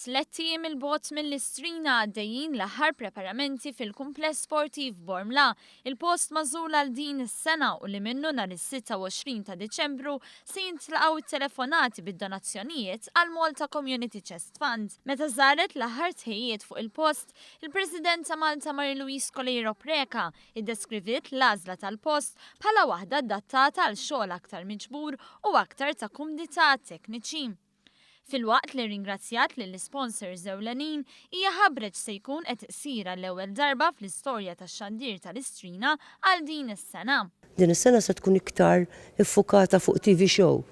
Tlett ijiem 'il bogħod mill-Istrina għaddejjin l-aħħar preparamenti fil-Kumpless Sportiv Bormla, il-post magħżul għal din is-sena u li minnu nhar is-26 ta' Diċembru se jintlaqgħu t-telefonati bid-donazzjonijiet għall-Malta Community Chest Fund. Meta żaret l-aħħar tħejjijiet fuq il-post, il-President ta' Malta Marie Louise Coleiro Preca iddeskriviet l-għażla tal-post bħala waħda adattata għal xogħol aktar miġbur u aktar ta' kumdità għat-tekniċi. Filwaqt li rringrazzjat lill-isponsors ewlenin, hija ħabbret x'se jkun qed isir għall-ewwel darba fl-istorja tax-xandir tal-Istrina għal din is-sena. Din is-sena se tkun iktar iffukata fuq TV Show,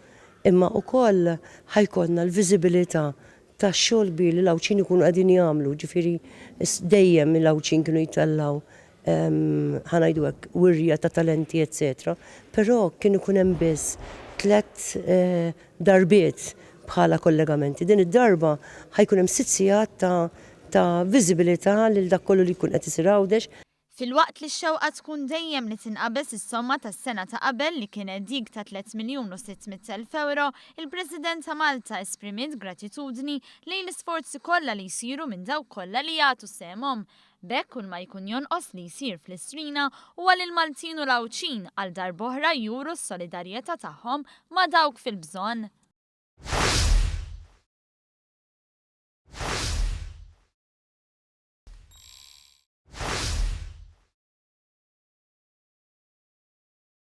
imma ukoll ħa jkollna l-viżibilità tax-xogħol kbir li l-Għawdxin ikunu qegħdin jagħmlu, ġifieri dejjem il-Għawdxin kienu jtellgħu ħa ngħidu hekk, wirja ta' talenti eċċetera, però kien ikun hemm biss tliet darbiet bħala kollegamenti. Din id-darba ħa jkun hemm sitt sigħat ta' ta' viżibilità lil dak kollu li jkun qed isir Għawdex. Filwaqt li x-xewqa tkun dejjem li tinqabeż is-somma tas-sena ta' qabel li kienet dik ta' tliet miljun u sitt mitt elf ewro, il-President ta' Malta esprimiet gratitudni lejn l-isforzi kollha li jsiru minn dawk kollha li jagħtu sehemhom B'hekk kull ma jkun jonqos li jsir fl-Istrina huwa li l-Maltin u l-Għawdxin għal darb'oħra juru s-solidarjetà tagħhom ma' dawk fil-bżonn.